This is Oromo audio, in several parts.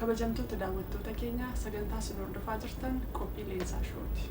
Kabajamtoota daawwattoota keenya sagantaa isin hordofaa jirtan qophii Leensaa Shooti.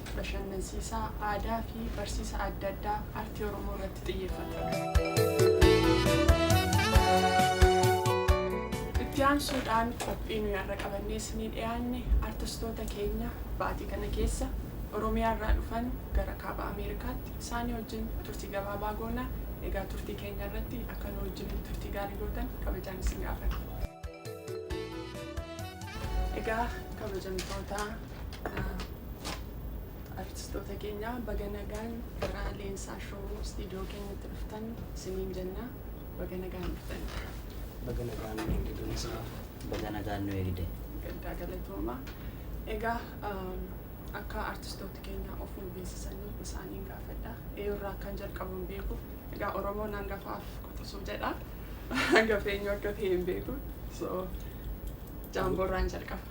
bashannansiisaa, aadaa fi barsiisa adda addaa artii Oromoo irratti xiyyeeffata. Itti aansuudhaan qophii nuyi har'a qabannee isinii dhiyaanne artistoota keenya baatii kana keessa Oromiyaa irraa dhufan gara Kaaba Ameerikaatti isaanii wajjin turtii gabaabaa goona. Egaa turtii keenya irratti akka nu wajjiniin turtii gaarii gootan kabajaan isin gaafanna. Egaa kabajamtoota Artistoota keenya baga nagaan gara Leensaa Show istiidiyoo keenyatti dhuftan isiniin jenna. Baga nagaan dhuftan. Baga nagaan nu eegde Gamsaa. Baga nagaan nu eegde. Gaddaa galatooma. Egaa akka artistoota keenya of nu beeksisanii isaaniin gaafadha. Eeyurraa akkan jalqabu hin beeku. Egaa Oromoon hangafaaf quxisuu jedha. Hangafeenyu akka ta'e hin beeku. So jaamboorraan jalqaba.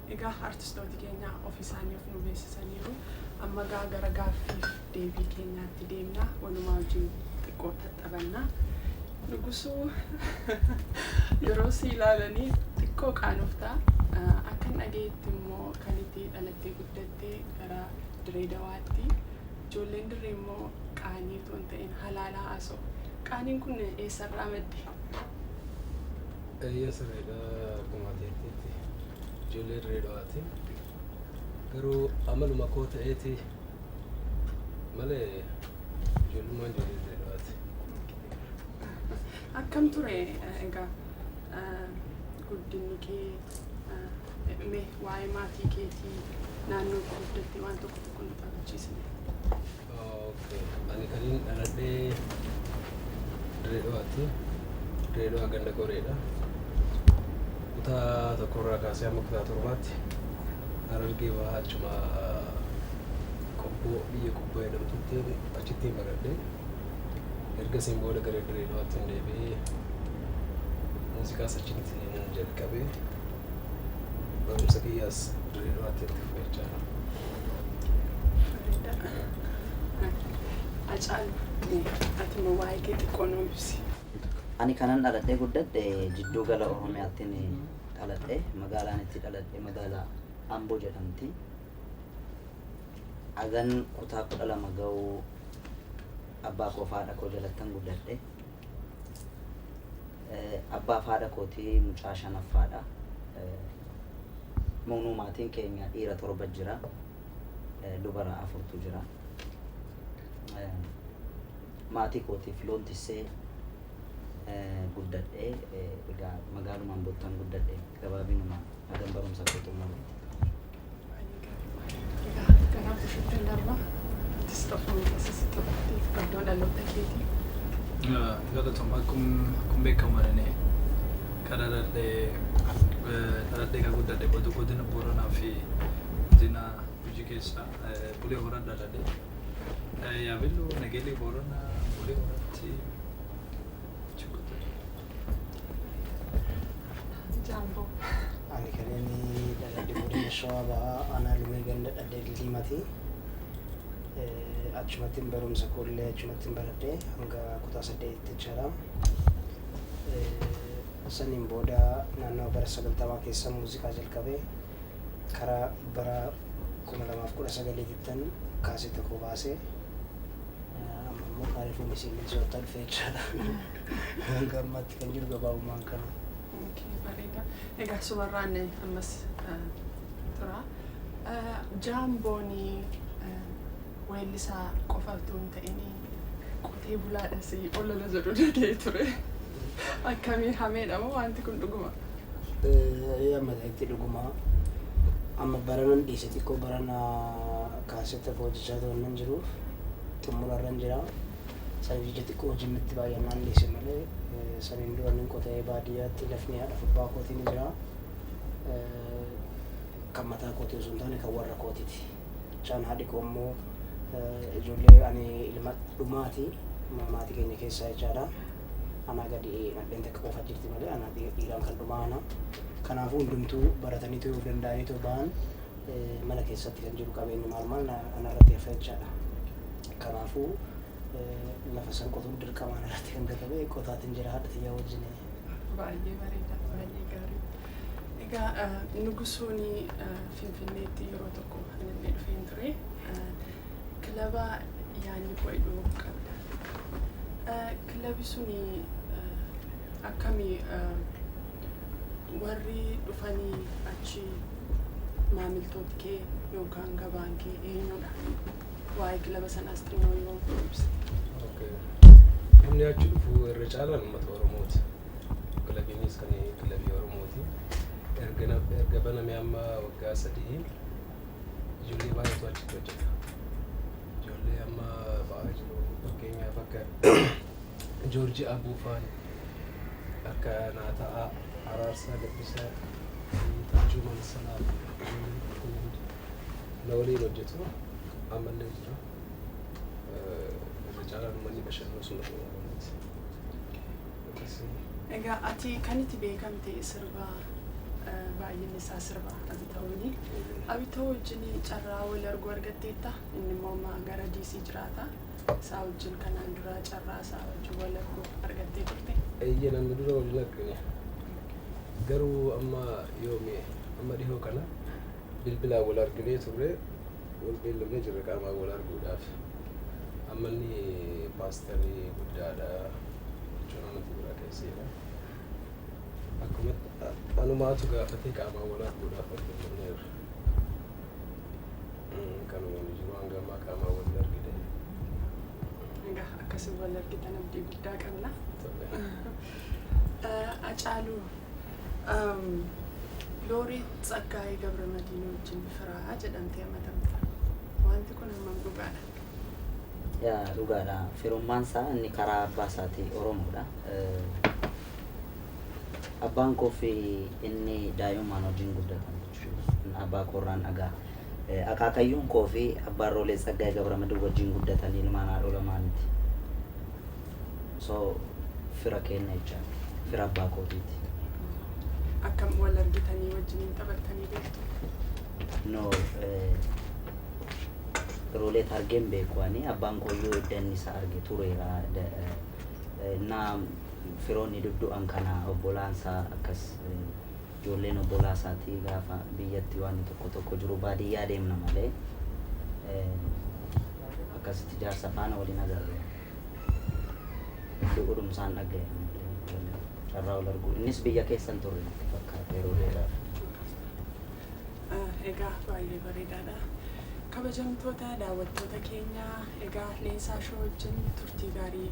Egaa artistooti keenya ofi isaanii of nu beeksisaniiru. Amma egaa gara gaaffiif deebii keenyaatti deemna. Walumaa wajjin xiqqoo taxxabanna. Nugusuu yeroo si ilaalanii xiqqoo qaanofta. Akkan dhageetti immoo kan itti dhalattee guddatte gara Diree Dawaatti. Ijoolleen dirree immoo qaanii otoo hin ta'in halaalaa haasa'u. Qaaniin kun eessarraa madde? Eeyyee sirriidha akkuma ati jetteetti ijoollee dirree dhawaati garuu amaluma koo ta'eeti malee ijoollummaan ijoollee dirree dhawaati. Akkam ture eh, egaa eh, guddinni kee eh, mee waa'ee maatii keetii naannoo itti guddatte waan tokko tokko nu taphachiisne. Ani kanin dhaladhe Dirreedhawaatti. Dirreedhawaa ganda Qoreedha. Kutaa tokkorraa kaasee hamma kutaa torbaatti Harargee bahaa achuma qobboo biyya qobboo jedhamtutti achitti hin baradhe. Ergasiin booda gara Dirreedhawaatti hin deebi'ee muuziqaas achitti hin jalqabe. Barumsa kiyyaas dirree dho'aatti itti fufee jira. Acaalu ati immoo waa'ee kee xiqqoo nuu ibsi. Ani kanan dhaladhee guddadhe jidduu gala Oromiyaattin dhaladhe. Magaalaan itti dhaladhe magaalaa Amboo jedhamti. Agan kutaa kudha lama ga'u abbaa koo fi haadha koo jalattan guddadhe. Abbaaf haadha kooti mucaa shanaffaadha. Moonuu maatiin keenya dhiira torba jira. Dubara afurtu jira. Maatii kootiif loon tissee guddadhe. Egaa magaaluma Amboottan guddadhe gabaabinumaan hagan barumsa koo xumurutti. Galatoom akkuma beekamu ani kan dhaladhee dhaladhee kan guddadhe godina godina Booranaa fi godina Gujii keessa Bulee Horaa dhaladhe. Yaabelloo Nageellee Booranaa Bulee Horaatti Jaalboo. Ani kan inni dhaladhe godina Shawaa Bahaa aanaa Lumee ganda Dhaddee Dildiimaati. Achumattiin barumsa koollee achumattiin baradhe hanga kutaa saddeetitti jechaadha. Saniin booda naannoo bara sagaltamaa keessa muuziqaa jalqabe karaa bara kuma lamaaf kudha sagaliitittan kaasee tokko baase. Amma immoo kaarifuu misiin soottaa dhufe jechaadha. Hanga ammaatti kan jiru gabaabumaan kana. Okay, bareeda. Egaa sumarraan eh, ammas eh, tura. Eh, Jaamboon eh, weellisaa qofa utuu hin ta'in qotee bulaadhas olola jedhu dhaga'ee ture. Akkamii hameedha moo wanti kun dhuguma? Ee amma ta'etti dhuguma amma baranan dhiise xiqqoo barana kaasetta hojjechaa turan nan jiruuf xumurarran jira. Saniif jecha xiqqoo hojiin natti baay'annaan dhiise malee saniin dura nin qota'ee baadiyyaatti lafni haadha fubbaa kootii ni jira. Kan mataa kootii osoo hin taane kan warra kootiti. Chaan haadhi koo immoo ijoollee ani ilma dhumaati maatii keenya keessaa jechaadha. Anaa gadi nadheen takka qofa jirti malee anaa dhiiraan kan dhumaa ana. Kanaafuu hundumtuu baratanii ta'uu danda'anii ta'uu ba'an mana keessatti kan jiru qabeenyi maal maal na- anarratti hafa jechaadha. Kanaafuu eh, lafa san qotuun dirqama anarratti kan gatame qotaatiin jira haadha tiyyaa wajjin. Baay'ee bareeda, baay'ee gaarii. Egaa eh, nugusoon eh, Finfinneetti yeroo tokko anillee dhufeen ture. Eh, Kilaba yaanni koo idhuu qabda. Eh, Kilabi suni eh, akkami eh, warri dhufanii achi maamiltooti kee yookaan gabaan kee eenyudha? Waa'ee kilaba sanaas xinnoo yoo ibsa. Okay. Namni achi dhufu irra caalaan uummata Oromooti. Kilabiinis kan kilabii Oromooti. Erga na- erga baname amma waggaa sadii ijoollee baay'eetu achitti hojjeta. Ijoollee amma ba'aa jiru fakkeenyaaf akka Joorji Abuufaan akka naa ta'a Araarsaa Gabbisaa fi Tajjuu Mansala ijoolleen kun hundi na waliin hojjetu ammallee jira. Irra caalaan uummanni Bashannoo sun Oromoo Oromooti. Akkasii. Egaa ati kan itti beekamte sirba eh, baay'inni isaa sirba Abitawooni. Abitawoo wajjin carraa wal arguu argatteetta. Inni immoo amma gara DC jiraata. isaa wajjin kanaan duraa carraa isaa wajjin wal arguu argattee turte? Eeyyeen amma dura waliin argine. Garuu amma yoomi amma dhihoo kana bilbilaan wal arginee turre wal beellamnee jirra qaamaan wal arguudhaaf. Amma inni paastarii guddaadha jechuun amantii biraa keesseera. Akkuma anumaatu gaafatee qaamaan wal arguudhaaf wal beellamneerra. Kanuma inni jiru hanga ammaa qaamaan wal hin argine. Egaa akkasii wal argitan abdii guddaa qabna. Acaaluu Looreet Tsaggaayee Gabramadiin wajjin firaa jedhamtee amatamta. Wanti kun hammam dhugaadha? Yaa dhugaadha. Firummaan isaa inni karaa abbaa isaatii Oromoodha. Abbaan koo fi inni daa'imummaan wajjin guddatan jechuudha. Abbaa koorraan dhagaa. Akaakayyuun koo fi abbaan Roolee Tsaggaayee Gabramadin wajjin guddatan ilmaan haadhoo lamaaniiti. So, fira keenna jechaadha. Fira abbaa kootiiti. Akkam wal argitanii wajjiniin taphattanii beektu? No, Roolee argeen beeku ani. Abbaan kooyyuu edda inni isa arge tureera. Naa firoonni duddu'an kana obbolaansaa akkas Ijoolleen obbolaa isaatii gaafa biyyatti waanni tokko tokko jiru baadiyyaa deemna malee akkasitti jaarsa faana wal hin agarre. Du'uudhum isaan dhaga'e ammallee ijoolleen carraa wal arguu. Innis biyya keessa hin turre natti fakkaata yeroo dheeraaf. Eh, Egaa baay'ee bareedaadha. Kabajamtoota daawwattoota keenya egaa leensaa shoo wajjin turtii gaarii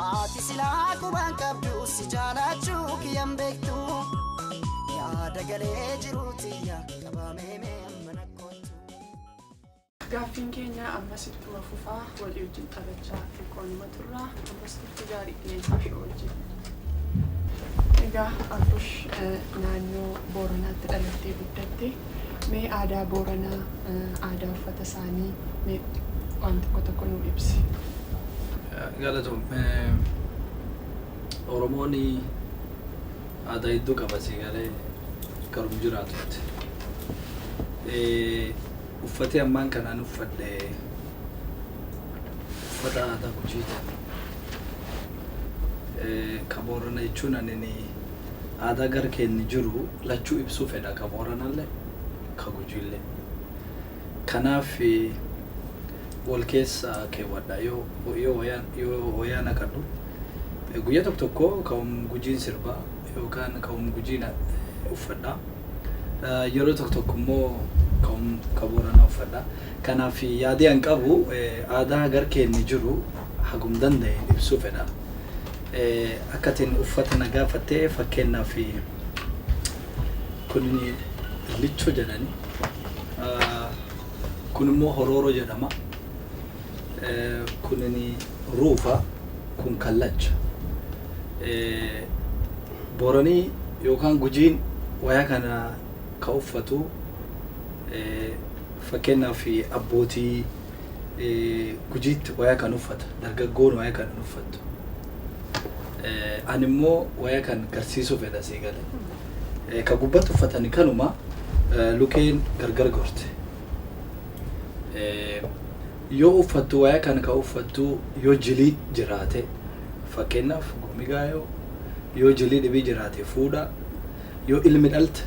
Ati silaa qubaan qabdu si jaalaachuu kiyyan beektu yaada galee jiruu tiyya qabamee mee amma na kottu. Gaaffiin keenya ammas ittuma fufaa walii wajjin taphachaa xiqqoonuma turra ammas turtii gaarii qilleensaa shoo wajjin. Egaa Abbush eh, naannoo Booranaatti dhalattee guddatte. Mee aadaa Booranaa, aadaa uffata isaanii mee waan tokko tokko nuu ibsi. Galatoom. Oromoon aadaa hedduu qaba sii galee karum jiraatutti. Uffatee ammaan kanaan uffadhe uffata aadaa Gujiiti. Ka Boorana jechuun anini. aadaa gar keenni jiru lachuu ibsuu fedha ka Booranalle ka Gujiille. Kanaaf wol keessa keewwadha yoo yoo wayaan yoo wayaa naqadhu guyya tokko tokko ka um Gujiin sirba yookaan ka um Gujiin uffadha yeroo tokko tokko immoo ka um ka Booranaa uffadha. Kanaaf yaadii an qabu aadaa gar keenni jiru hagum danda'een ibsuu fedha. Akka atin uffata na gaafatte fakkeennaaf kun licho jedhani kun immoo horooro jedhama kun ruufa kun kallacha booranii yookaan gujiin waya kana ka uffatu fakkeennaaf abbootii gujiitti waya kan uffata dargaggoon waya kan uffattu. Ani mo waya kan garsisu fedha si gale ka gubbati uffatani kanuma lukeen gargar gorte yo uffattu waya kan ka uffattu yo jili jiraate fakkeenaf gomigayo yo jili dhibi jiraate fuudha yo ilmi dhalte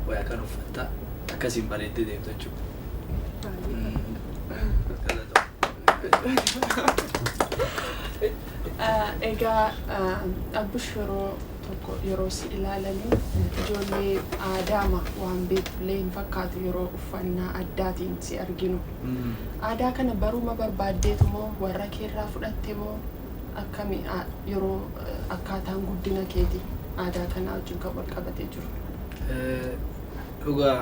waya kan uffatta akkasiin bareedde deemta jechuudha. Egaa abbush yeroo tokko yeroo si ilaalanii ijoollee aadaama waan beektullee hin fakkaatu yeroo uffannaa addaatiin si arginu. Aadaa kana baruma barbaaddeetu moo warra keerraa fudhatte moo akkami yeroo akkaataan guddina keeti aadaa kanaa wajjin kan wal qabatee jiru? Dhugaa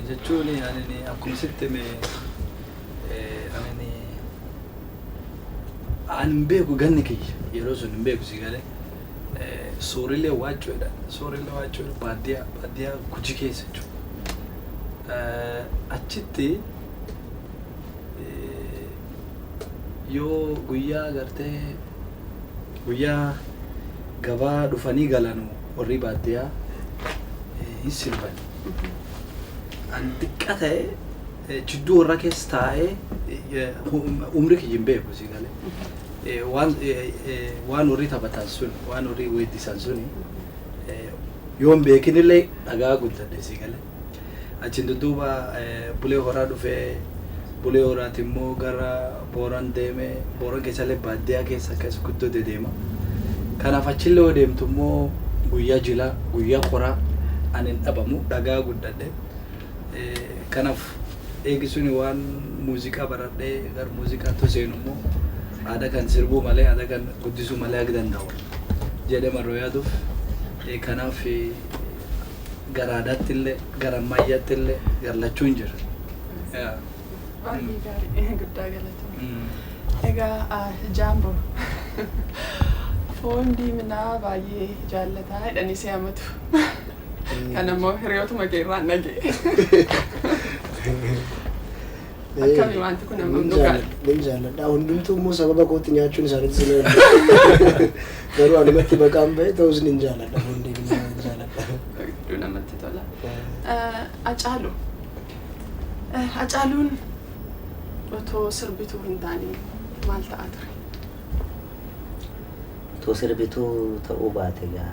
jechuun ani akkuma sitti hime Ani ani hin beeku ganni kiyya yeroo sun hin beeku si galee soorilee waachuu jedha soorilee waachuu jedha baadiyyaa baadiyyaa guji keessa jechuudha. Achitti yoo guyyaa gartee guyyaa gabaa dhufanii galanu warri baadiyyaa hin sirbani. Ani xiqqa ta'e Jidduu warra keessa taa'ee umri kiyya hin beeku si galee. Waan waan warri taphatan sun waan warri weeddisan sun yoo hin beekinillee dhagaa guddadhe si galee. Achiin dudduuba bulee horaa dhufee bulee horaati immoo gara booran deemee booran keessallee baadiyyaa keessa akkas guddoo dedeema. Kanaaf achillee yoo deemtu immoo guyyaa jilaa guyyaa qoraa ani hin dhabamu dhagaa guddadhe. Kanaf eegi suni waan muziqa baradhe gar muziqa to seenu mo aada kan sirbuu male aada kan guddisuu male ag dandawa jedhe marro yaaduf kanaf gar aadattille gar ammayyattille gar lachuun jira. Baay'ee gaarii guddaa galatoomi. Egaa Jaamboo foon diiminaa baay'ee jaallataa jedhanii si amatu. Kan ammoo hiriyootuma kee irraa nage. Akkami wanti kun amma dhugaadha. Nin jaalladha. Hundumtuu immoo sababa kootti nyaachuun isaaniitti sina hin Garuu anumatti baqaan ba'e ta'us nin jaalladha. Hundee nin jaalladha. Hedduu namatti tola. Eh, Acaalu. Eh, Acaaluun otoo sirbituu hin taane maal ta'a ture? Utuu sirbituu ta'uu baate gaa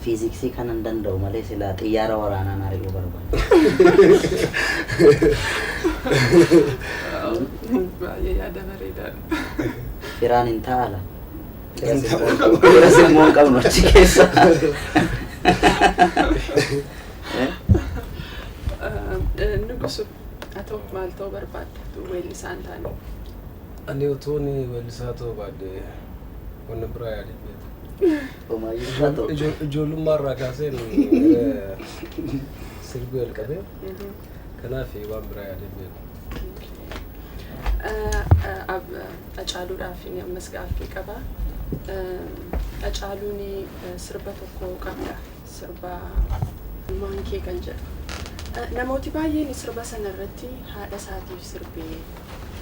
fiiziksii kanan danda'u malee silaa xiyyaara waraanaan ari'uu barbaada. Baay'ee yaada bareedaadha. Firaan hin taa'ala. Hin taa'u. Fira simmoo hin qabnu achi keessa. Eh? Nugusu haa ta'u maal ta'uu barbaadda weellisaan taane. Ani utuun weellisaa ta'uu baadhe waan na biraa yaadeen beeku. Omaayyuu isaa ta'u. Ijoo- ijoo- Ijoollummaa irraa kaaseen eh, sirbuu jalqabe. Kanaaf waan biraa yaadeen beeku. Hacaaluudhaaf inni ammas gaaffii qaba. Hacaaluun sirba tokko qabda. sirba ilmaan kee kan jedhu. Namooti baay'een sirba sana irratti haadha isaatiif sirbee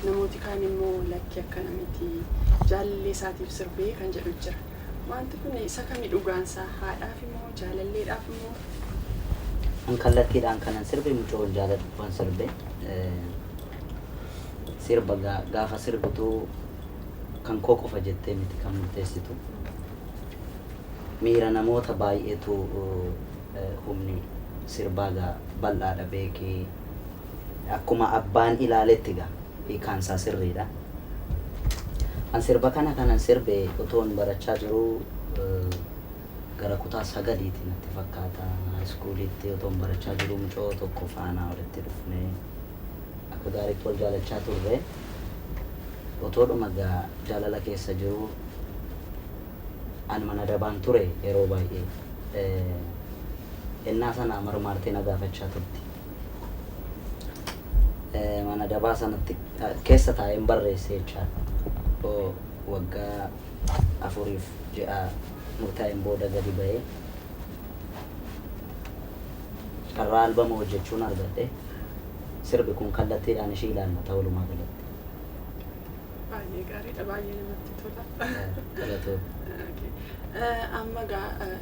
namooti kaan immoo lakki akkana miti jaalallee isaatiif sirbee kan jedhu jira. Wanti kun isa kami dhugaansaa haadhaaf immoo jaalalleedhaaf immoo An kallattiidhaan kanan sirbe mucoon jaaladhuufan sirbe. Sirba gaafa sirbitu kan koo qofa jettee miti kan murteessitu. Miira namoota baay'eetu Humni sirbaa egaa bal'aadha beeki Akkuma abbaan ilaaletti egaa hiikaan isaa sirriidha An sirba kana kanan sirbe otoon barachaa jiruu Gara kutaa sagaliiti natti fakkaata High school'tti otoon barachaa jiruu mucoo tokko faana walitti dhufnee Akka gaariitti wal jaalachaa turre. Otoodhuma egaa jaalala keessa jiruu ani mana dabaan ture yeroo baay'ee. Ennaa sana marmaartee na gaafachaa turte. Mana dabaa sanatti keessa taa'een barreesse jechaadha. Waggaa afuriif ji'a murtaa'een booda gadi ba'ee carraa albama hojjechuun argadhe. sirbi kun kallattiidhaan ishii ilaallata walumaa galatti. Baay'ee gaariidha, baay'ee namatti tola. Galatoo. Okay. Eh, Amma gaa eh,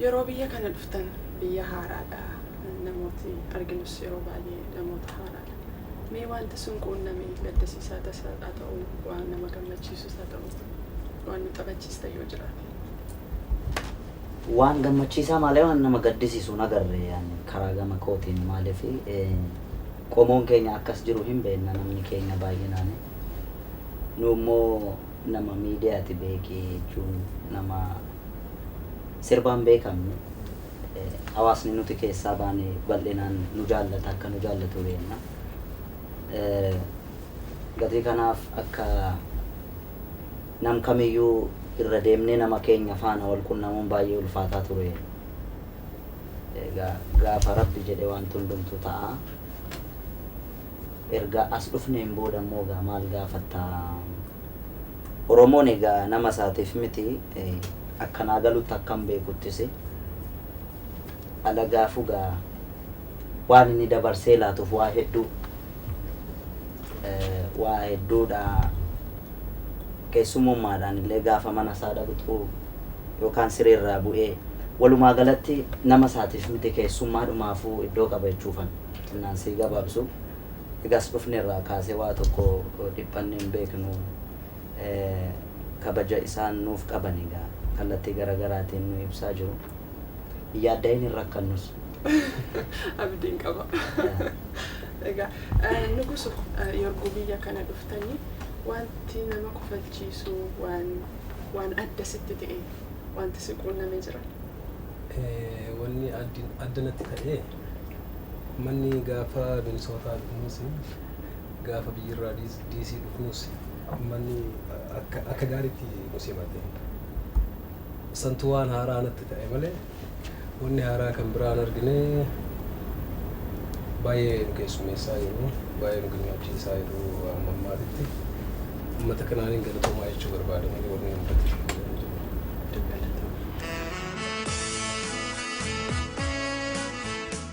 yeroo biyya kana dhuftan biyya haaraadha. Namooti arginus yeroo baay'ee namoota haaraadha. Mee wanti sun quunname gaddisiisaa tasaa haa ta'u, waan nama gammachiisus haa ta'u, waan nu taphachiista yoo jiraate. Waan gammachiisaa malee waan nama gaddisiisu hin agarre ani karaa gama kootiin maaliif qomoon keenya akkas jiru hin beenna namni keenya baay'inaani nu immoo nama miidiyaati beekii jechuun nama sirbaan beekamnu hawaasni nuti keessaa baane bal'inaan nu jaallata akka nu jaallatu beenna gatii kanaaf akka Nam kamiyyuu irra deemnee nama keenya faana wal qunnamuun baay'ee ulfaataa ture. Egaa gaafa Rabbi jedhe waanti hundumtuu ta'a. Erga as dhufneen booda immoo egaa maal gaafatta? Oromoon egaa nama isaatiif miti akka naa galutti akkan beekuttis alagaafuu egaa waan inni dabarsee laatuuf waa hedduu waa hedduudha keessummummaadhaan illee gaafa mana isaa dhaquxuu yookaan sireerraa bu'ee walumaa galatti nama isaatiif miti keessummaa dhumaafuu iddoo qaba jechuufan xinnaan sii gabaabsu egaas dhufne irraa kaasee waa tokko dhiphanne hin beeknu. kabaja isaan nuuf qaban egaa kallattii gara garaatiin nu ibsaa jiru. Hin yaadda'in hin rakkannus. Abdiin qaba. Egaa nuguso yorgu biyya kana dhuftanii wanti nama kofalchiisu waan waan adda sitti ta'e wanti si quunname jira? Wanni addi adda natti ta'e ummanni gaafa Minisootaa dhufuus gaafa biyyirraa DC dhufnus ummanni akka gaariitti nu simate. Santu waan haaraa natti ta'e malee wanni haaraa kan biraan argine baay'ee nu keessummeessaa jiru, baay'ee nu gammachiisaa jiru amma ammaatitti. Ummata kanaanin galatoomaa jechuu barbaada malee wanni nu mudate tokkollee hin jiru. Itoophiyaan jirti.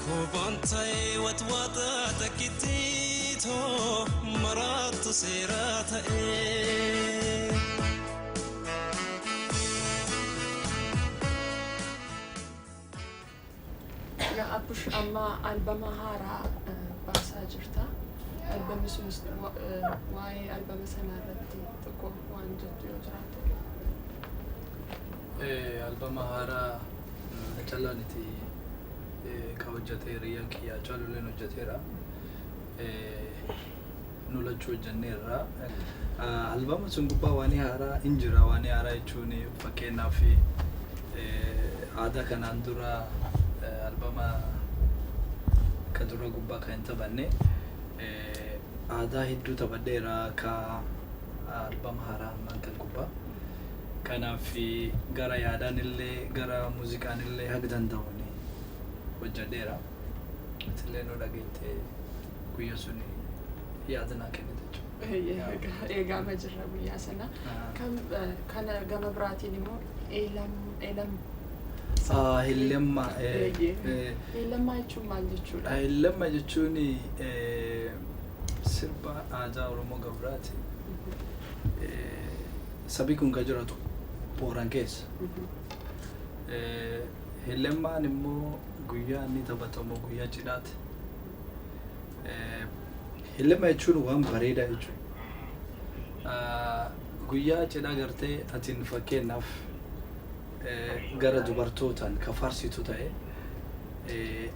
Koobaan ta'ee watwaata takkitti too maraattu seeraa ta'ee. Yaa Abbush amma albama haaraa baasaa jirta. Albamni sunis waa'ee albama sanaa irratti tokko waan jettu yoo jiraate. Albama haaraa Hacallaan itti ka hojjate hiriyyaan kiyya Hacaalulleen hojjateera. Nu lachuu hojjanneerra. Albama sun gubbaa waanii haaraa hin jira. Waanii haaraa jechuun fakkeenyaaf aadaa kanaan dura albama ka dura gubbaa kan hin taphanne aadaa hedduu taphadheera ka albama haaraa ammaan kan gubbaa. Kanaaf gara yaadaan illee gara muuziqaan illee haga danda'uun hojjadheera. Ati illee nu dhageettee guyya sun yaada naa kennite jechuudha. Eegaama jirra guyyaa sana. Kana gama biraatiin immoo eelam eelam. Eelamma. Eelammaa jechuun maal jechuudha? Eelamma jechuun sirba aadaa Oromoo Gabiraati. Sabi kun ka jiratu Booran keessa. Hilemmaan immoo guyyaa inni taphatamu guyyaa cidhaati. Hilemma jechuun waan bareedaa jechuudha. Guyyaa cidhaa gartee atiin fakkeenyaaf gara dubartootaan ka faarsitu ta'e,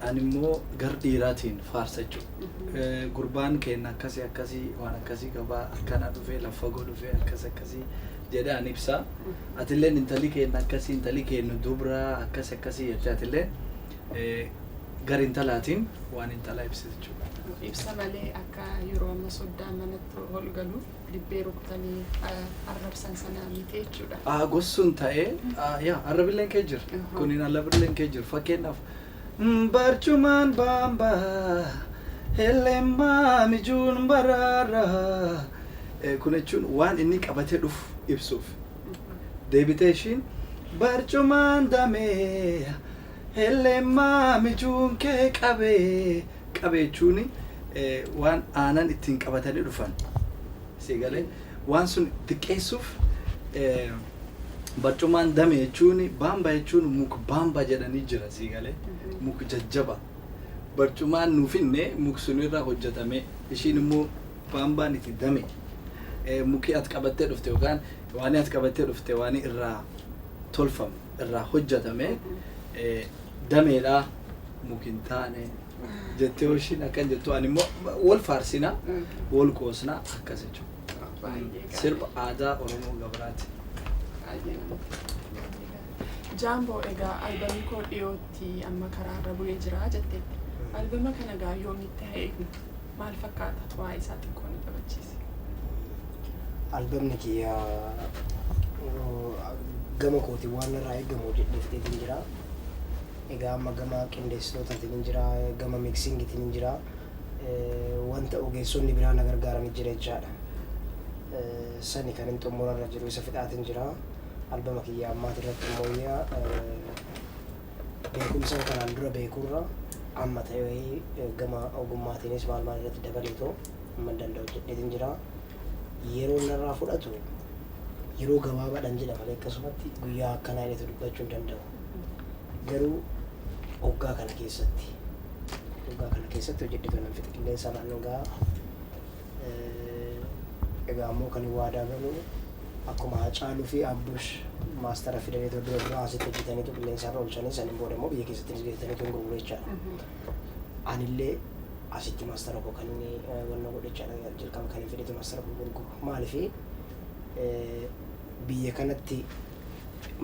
ani immoo gar dhiiraatiin faarsa jechuudha. Gurbaan keenya akkasii akkasii waan akkasii qabaa akkana dhufee laffagoo dhufee akkas akkasii jedhee an ibsaa. Atilleen intalli keenya akkasii intalli keenya dubraa akkas akkasii jettee atilleen gar intalaatiin waan intalaa ibsita jechuudha. Ibsa malee akka yeroo amma soddaan manatti ol galu. dibbee rukutanii arrabsan sana miti jechuudha. Aagos sun ta'ee yaa arrabilleen kee jira. Kuniin arrabilleen kee jira. Fakkeenyaaf barcumaan baambaa helleemmaa mijuun baraara. Kun jechuun waan inni qabatee dhufu ibsuuf. Deebitee ishiin barcumaan damee helleemmaa mijuun kee qabee. qabe jechuun waan aanan ittiin qabatanii dhufan si galee waan sun xiqqeessuuf barcumaan dame jechuun baamba jechuun muk baamba jedhanii jira si galee muk jajjaba barcumaan nuuf hinne muk sunirra hojjetame ishiin immoo baambaan itti dame mukii at qabattee dhufte yookaan waan at qabattee dhufte waan irraa tolfamu. irraa hojjatame dameedhaa mukin taane jettee hooshiin akkan jettu ani immoo wal faarsina wal qoosna akkas jechuudha. Sirba aadaa Oromoo Gabaraati. Jaamboo egaa albamii koo dhiyootti amma karaarra bu'ee jira jetteetti. Albama kana gaa yoomitti haa eegnu? maal fakkaata xuraa'ii isaa xiqqoo nu taphachiisi. Albamni kiyya gama kootiin waan irraa eegamu hojjedhee fixeetiin jira. Egaa amma gama qindeessitootaatiin hin jira, gama miksiingitiin hin jira. Wanta ogeessonni biraa na gargaaranii jira jechaadha. Sani kan hin xumurarra jiru isa fixaatiin jira. Albama kiyya ammaati irratti immoo beekumsa kanaan dura beekurra amma ta'ee gama ogummaatiinis maal maal irratti dabaleetoo amma danda'u hojjedheetiin jira. Yeroo narraa fudhatu yeroo gabaabaadhaan jedha malee akkasumatti guyyaa akkanaa jedheetu dubbachuu hin danda'u. Garuu oggaa kana keessatti oggaa kana keessatti hojjedheetoo nan fixa qilleensa irraan ga'a. Egaa ammoo kan hin waadaa galu akkuma Hacaaluu fi Abbush maastara fidanii dura dura dura asitti hojjetaniitu qilleensa irra oolchanii saniin booda immoo biyya keessatti hojjetaniitu hin gurgure jechaadha. Anillee asitti maastara koo kan inni wanna godhe jechaadha jalqaba kan hin fedhetu maastara koo gurguru. Maaliif biyya kanatti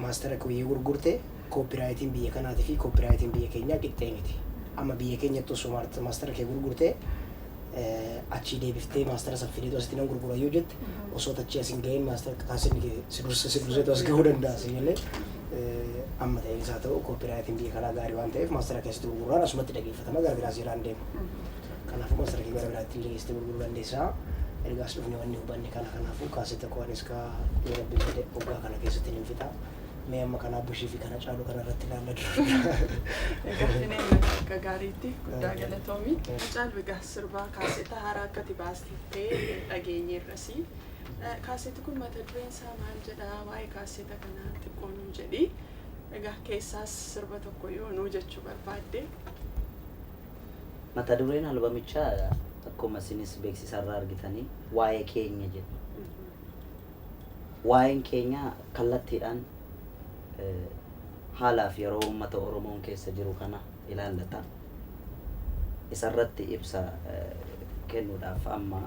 maastara koo yoo gurgurte koopiraayitiin biyya kanaatii fi koopiraayitiin biyya keenyaa qixxee miti. Amma biyya keenyatti osoo maastara kee gurgurte achii deebiftee maastara san fideetu asitti nan gurgura yoo jette osoo tachii as hin gahin maastara taasiin kee si dursa si durseetu as gahuu danda'a si jennee amma ta'een isaa ta'u koopiraayitiin biyya kanaa gaarii waan ta'eef maastara kee asitti gurguraan asumatti dhageeffatama gara biraas jiraan deema. Kanaafuu maastara kee gara biraatti illee geessitee gurguruu dandeessaa. Ergaas dhufne wanni hubanne kana kanaafuu kaasetta koonis kaa yoo rabbi jedhe waggaa kana keessatti hin fixaa. Mee amma kanaa bushii fi kana caalu kana irratti ilaalla Gaaffinee akka gaariitti guddaa galatoomi. Hacaal Bigaa sirbaa kaaseeta haaraa akkati baastettee dhageenye irrasi. Kaaseeti kun mata dureen isaa maal jedha? Waa'ee kaaseeta kanaa xiqqoo nuu jedhi. Egaa keessaas sirba tokko yoo nuu jechuu barbaadde. Mata dureen albamichaa akkuma isinis beeksisarraa argitanii waa'ee keenya jedha. Waa'een keenya kallattiidhaan haalaa fi yeroo uummata Oromoon keessa jiru kana ilaallata. Isa irratti ibsa kennuudhaaf amma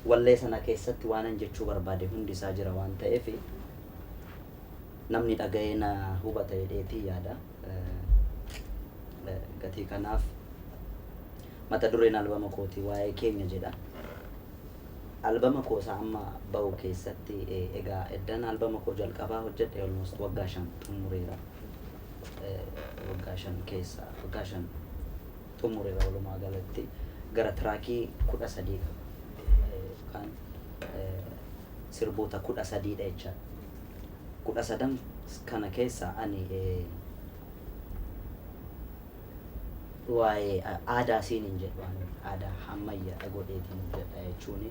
wallee sana keessatti waanan jechuu barbaade hundi isaa jira waan ta'eef namni dhaga'ee na hubata jedheetii yaada. Gatii kanaaf mata dureen albama kootii waa'ee keenya jedha. Albama koo isaa amma bahu keessatti egaa eddan albama koo jalqabaa hojjedhe almost waggaa shan xummureera. Waggaa shan keessa waggaa shan xummureera walumaa galatti gara tiraakii kudha sadii qaba. Yookaan sirboota kudha sadiidha jechaadha. Kudha sadan kana keessa ani waa'ee aadaa siin hin jedhu ani aadaa hammayyaadha godheetiin hojjedha jechuun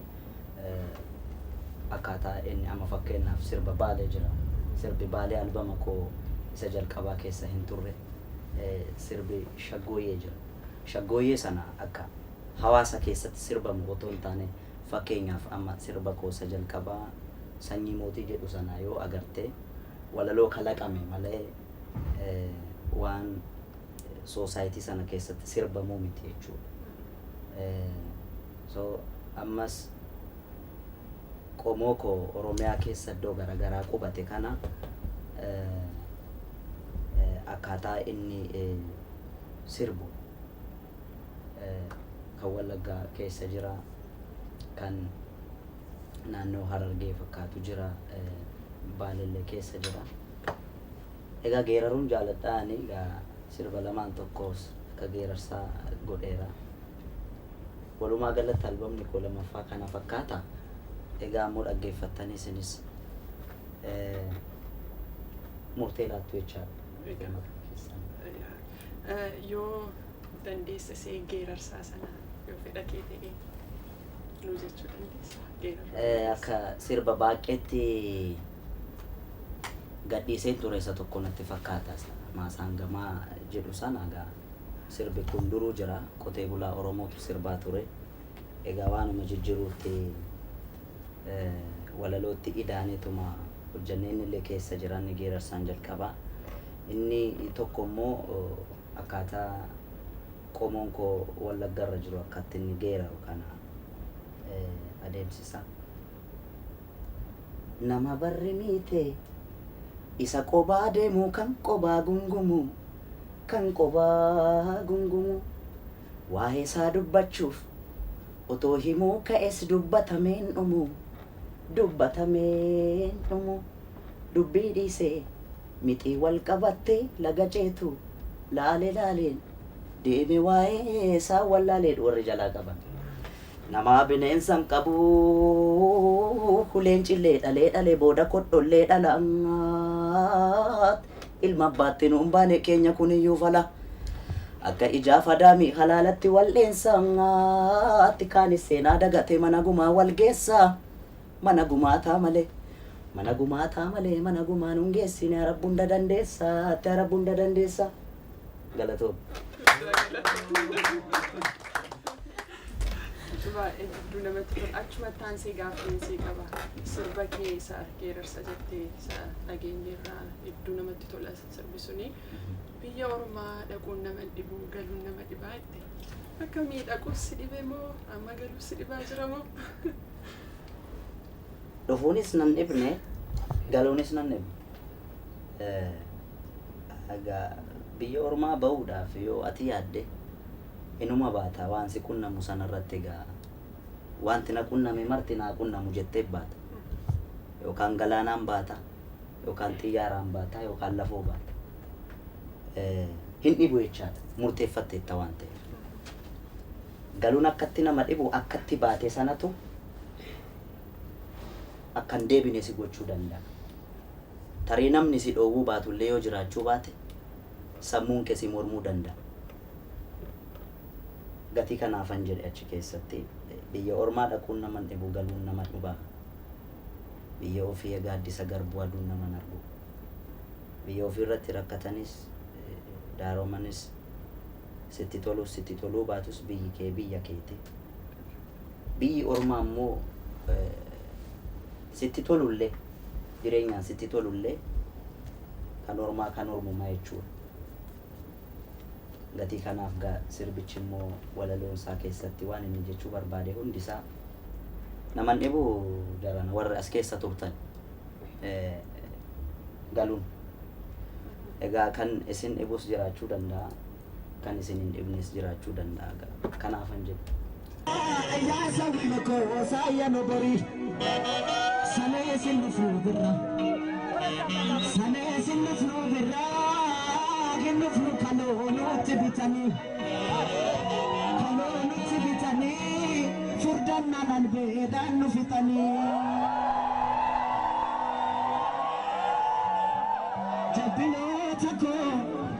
akkaataa inni amma fakkeenyaaf sirba baalee jira sirbi baalee albama koo isa jalqabaa keessa hin turre sirbi shaggooyyee jira shaggooyyee sana akka hawaasa keessatti sirbamu otoo hin taane fakkeenyaaf amma sirba koo isa jalqabaa sanyii mootii jedhu sana yoo agartee walaloo kalaqame malee waan soosaayitii sana keessatti sirbamuu miti jechuudha. So ammas qomoo koo Oromiyaa keessa iddoo garaagaraa qubate kana akkaataa inni sirbu kan Wallaggaa keessa jira, kan naannoo Harargee fakkaatu jira, Baalellee keessa jira. Egaa geeraruun jaaladha ani egaa sirba lamaan tokkos akka geerarsaa godheera. Walumaa galatti albamni koo lamaffaa kana fakkaata. Egaa ammoo dhaggeeffattanii isinis murtee laattu jechaadha. Murtee mataa keessan. Yoo dandeesse see geerarsaa sana yoo fedha kee ta'e nuu jechuu dandeessa. Geeraruu dandeessa. Akka sirba baaqqeetti gadhiiseen ture isa tokko natti fakkaata isa maasaangamaa jedhu sana egaa sirbi kun duruu jira qotee bulaa oromootu sirbaa ture egaa waanuma jijjiruutti eh, walalootti idaaneetuma hojjannee inni illee keessa jira inni geerarsaan jalqabaa inni tokko immoo eh, akkaataa qomoon koo wallaggarra jiru akkatti inni geeraru kana eh, adeemsisa. Nama barri miite isa qobaa deemu kan qobaa gungumu kan qobaa gungumu waa'ee isaa dubbachuuf otoo himuu ka'es dubbatamee hin dhumu dubbatamee hin dhumu dubbii dhiisee mixii wal qabattee laga ceetu laale laaleen deeme waa'ee isaa wallaalee jedhu warri jalaa qaban. Namaa bineensa hin qabu Leencillee dhalee dhalee booda kodhollee dhala Ilma abbaatti nuun baane keenya kuniyyuu fala Akka ijaaf adaamii halaalatti wal dheensa Kaanis seenaa dagatee mana gumaa wal geessa Mana gumaataa malee Mana gumaataa malee mana gumaa nun geessine Arabbu hunda dandeessa Arabbu hunda dandeessa. galatoomi. Baay'ee hedduu namatti tola. Achumatti taansee gaaffii sii qaba. Sirba kee isa geerarsa jettee isa dhageenyeerra hedduu namatti tola sirbi suni. Biyya ormaa dhaquun nama dhibu galuun nama dhibaa jette. Akkamii dhaquus si dhibe moo amma galuus si dhibaa jira moo? Dhufuunis nan dhibne galuunis nan dhibne. Eh, Egaa biyya ormaa ba'uudhaaf yoo ati yaadde inuma baata waan si qunnamu sanarratti egaa waanti na qunname marti naa qunnamu jettee baata. Yookaan galaanaan baata, yookaan xiyyaaraan baata, yookaan lafoo baata. Hin dhibu jechaadha murteeffatteetta waan ta'eef. Galuun akkatti nama dhibu akkatti baate sanatu akka hin deebine si gochuu danda'a. Tarii namni si dhoowwuu baatu illee yoo jiraachuu baate sammuun kee si mormuu danda'a. Gatii kanaafan jedhe achi keessatti biyya ormaa dhaquun naman dhibu galuun nama dhuba. Biyya ofii gaaddisa garbuu aduun naman argu. Biyya ofii irratti rakkatanis daaromanis sitti tolus sitti toluu baatus biyyi kee biyya keeti. Biyyi ormaa immoo. Sitti tolullee, jireenyaan sitti tolullee kan ormaa kan ormumaa jechuudha. Gatii kanaaf gaa sirbichi immoo walaloon isaa keessatti waan inni jechuu barbaade hundi isaa nama hin dhibu jarana warri as keessa turtan galuun. Egaa kan isin dhibus jiraachuu danda'a. kan isin hin dhibnes jiraachuu danda'a ga'a. Kanaafan jedhu. Yaa sabni koo saayya nu bori Sanee sin dhufu birra Sanee sin dhufu birra Hin dhufu kaloo nutti bitanii Kaloo nutti bitanii Furdannaan albeedhaan nu fixanii Jabbinoota koo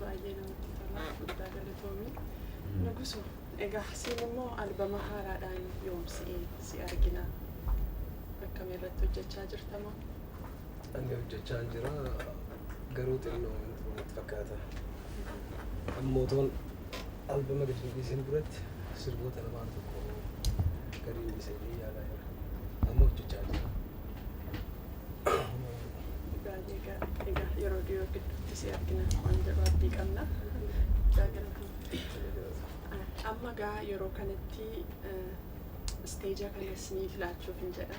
Baay'ee namatti tola. Guddaa galatoomi. Nuguso, egaa siin immoo albama haaraadhaan yoom si si argina? Akkami irratti hojjechaa jirta moo? Ani hojjechaa hin jira garuu xinnoo wanti kun natti fakkaata. Amma otoon albama gadi hin dhiisin duratti sirboota lamaan tokko gadi hin dhiisa jedhee yaadaa jira. Amma hojjechaa jira. Gaarii egaa egaa yeroo dhiyoo gidduutti si argina waan jedhu abdii qabna. Guddaa galatoomi. Amma gaa yeroo kanatti isteeja kanas ni filaachuuf hin jedha.